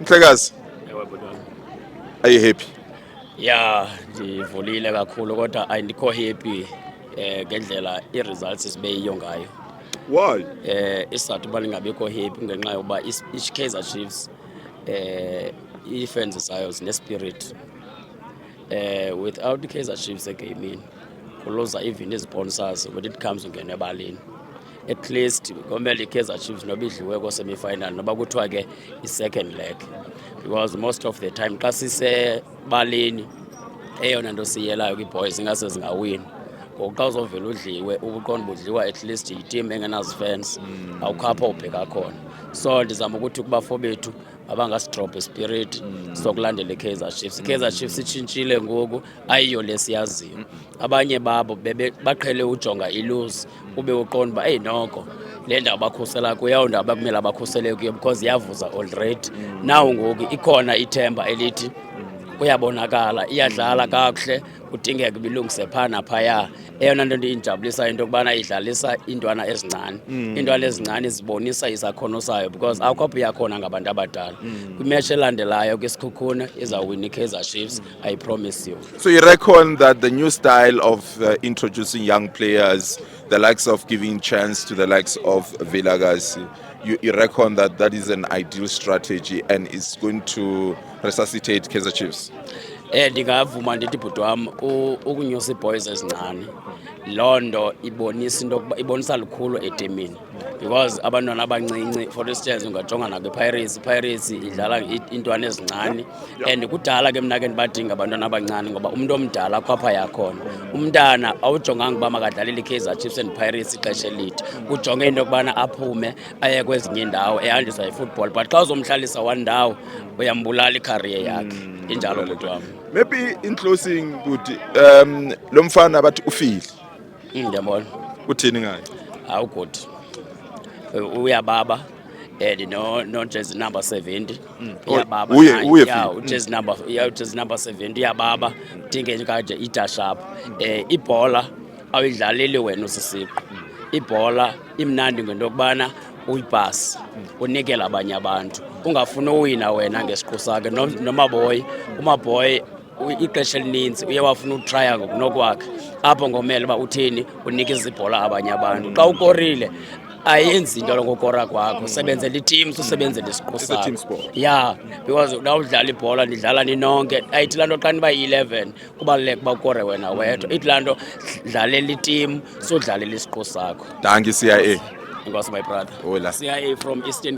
Mhlekazi. Ewe bhuti wam. Are you happy? Ya, ndivulile kakhulu kodwa andikho happy eh ngendlela i-results sibe yiyo ngayo. Why? Eh isizathu uba ndingabikho happy ngenxa yokuba i-Kaizer Chiefs eh ii-fans zayo zinespirit. Eh without i-Kaizer Chiefs egamini kuluza even izisponsors when it comes to ngena ebaleni. at least komele ikaizer chiefs noba idliwe kosemifinal noba kuthiwa ke i-second leg because most of the time xa sisebaleni eyona nto siyelayo kwiboys ingase zingawini ngoku xa uzovela udliwe ubuqonda budliwa at least yitim engenazifans mm. awukho apho ubheka khona so ndizama ukuthi kubafo bethu abangasidrobhe spirit mm. sokulandela ikaizer chiefs ikaizer mm. chiefs itshintshile ngoku ayiyo lesiyaziyo abanye babo baqhele ujonga iluzi ube uqonda uba eyi noko le ndawo bakhusela kuyo ndawo bakumele abakhusele kuyo because iyavuza already nawo ngoku ikhona ithemba elithi kuyabonakala iyadlala kakuhle kudingeka bilungise phaa naphaya eyona nto ndiyijabulisa into yokubana idlalisa iintwana ezincane mm. iintwana ezincane zibonisa isakhono sayo because akho apho iyakhona ngabantu abadala mm. kwimeshi elandelayo kwisikhukhune izawuwina ikaizer chiefs I promise you. So you reckon that the new style of uh, introducing young players, the likes of giving chance to the likes of Vilakazi, you, you reckon that that is an ideal strategy and is going to resuscitate Kaizer Chiefs? Eh ndingavuma ndithi bhuti wam ukunyusa iibhoys ezincane loo nto ibonisa into ibonisa lukhulu etimini because abantwana abancinci for instance ungajonga nakwipirates ipirates idlala iintwana ezincane and kudala ke mna ke ndibadinga abantwana abancane ngoba umntu omdala khwapha yakhona umntana awujonganga uba makadlalele i-kaizer chiefs and pirates ixesha elide ujonge into yokubana aphume aye kwezinye indawo ehanjiswa yifootball but xa uzomhlalisa one ndawo uyambulala ikhariye yakhe hmm. injalo bhuti wam maybe in closing bhuti um lo mfana bathi ufile Mm, ndiyabona. Uthini ngayo? Awu good. Uyababa and eh, no no jazz number 70 mm. oh, uyababa uye uye ya mm. jazz number ya jazz number 70 uyababa dinge nje kaje idash up eh ibhola awidlaleli wena usisiqo mm. ibhola imnandi ngento kubana uyibhasi unikela abanye abantu ungafuni uwina wena ngesiqu sakhe nomaboyi umaboyi ixesha elininzi uye wafuna utraya ngokunokwakhe apho ngomele uba uthini unike izibhola abanye abantu xa ukorile ayenzi into lokokora kwakho usebenzela iteam usebenzela isiqu sakho ya because xa udlala ibhola nidlala ninonke ayithi laa nto xa niba yi-eleven kubaluleka uba ukore wena wedwa ithi laa nto dlalela iteam sodlalela isiqu sakho danki cia enkosi my brother Hola. cia from eastern